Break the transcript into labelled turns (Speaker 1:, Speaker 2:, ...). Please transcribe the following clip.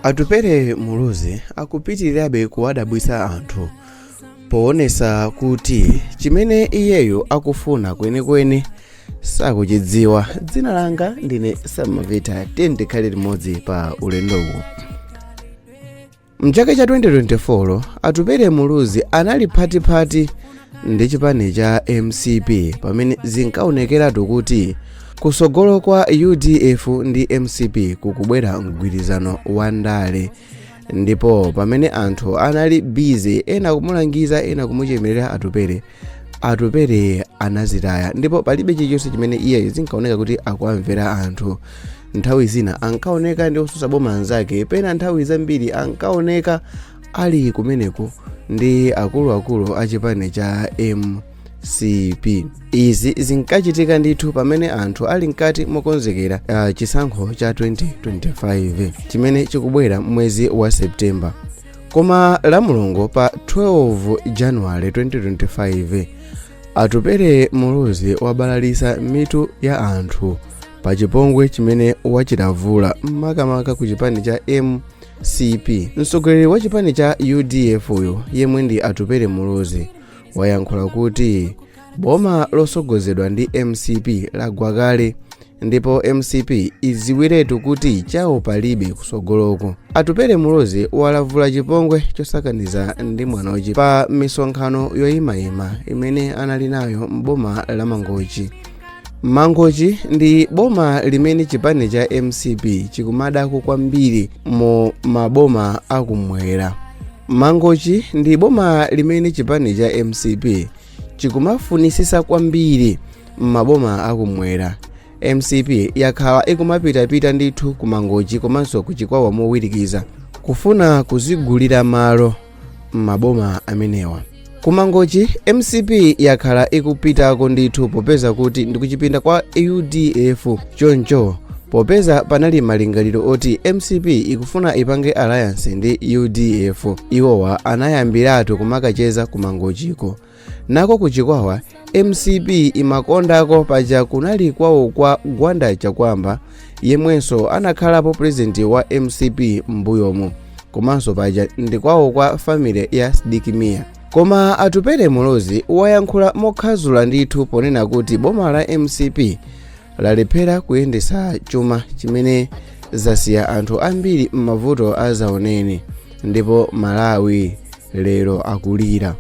Speaker 1: atupere muluzi akupitirirabe kuwadabwitsa anthu poonesa kuti chimene iyeyo akufuna kwenikweni sakuchidziwa dzina langa ndine samavita tikhale limodzi pa ulendowu mchaka cha 2024 atupere muluzi anali phatiphati ndi chipani cha mcp pamene zinkaonekeratu kuti kusogolo kwa udf ndi mcp kukubwera mgwirizano wa ndale ndipo pamene anthu anali busy ena kumulangiza ena kumuchemerera atupere atupere anazitaya ndipo palibe chilichonse chimene iye zinkaoneka kuti akuwamvera anthu nthawi zina ankaoneka ndi otsutsa boma anzake pena nthawi zambiri ankaoneka ali kumeneko ndi akuluakulu a chipani cha mcp izi zinkachitika ndithu pamene anthu ali mkati mokonzekera uh, chisankho cha 2025 chimene chikubwera mwezi wa septemba koma la mulungu pa 12 januwale 2025 atupere muluzi wabalalisa mitu ya anthu pa chipongwe chimene wachilavula makamaka ku chipani cha mcp mtsogoleri wa chipani cha udf uyu yemwe ndi atupere muluzi wayankhula kuti boma losogozedwa ndi mcp lagwa kale ndipo mcp idziwiretu kuti chawo palibe kusogoloko atupere muluzi walavula chipongwe chosakaniza ndi mwanochi pa misonkhano yoyimayima imene anali nayo m'boma la mangochi mangochi ndi boma limene chipani cha mcp chikumadako kwambiri mu maboma akumwera mangochi ndi boma limene chipani cha mcp chikumafunitsitsa kwambiri m'maboma akumwera mcp yakhala ikumapitapita ndithu ku mangochi komanso ku chikwawa mowirikiza kufuna kuzigulira malo m'maboma amenewa kumangochi mcp yakhala ikupitako ndithu popeza kuti ndikuchipinda kwa udf choncho popeza panali malingaliro oti mcp ikufuna ipange alliance ndi udf iwowa anayambiratu kumakacheza kumangochiko nako ku chikwawa mcp imakondako paja kunali kwawo kwa gwanda chakuamba yemwenso anakhalapo purezidenti wa mcp m'mbuyomu komanso paja ndi kwawo kwa family ya sidik mia koma atupere muluzi wayankhula mokhadzula ndithu ponena kuti boma la mcp lalephera kuyendetsa chuma chimene zasiya anthu ambiri m'mavuto azaoneni ndipo malawi lero akulira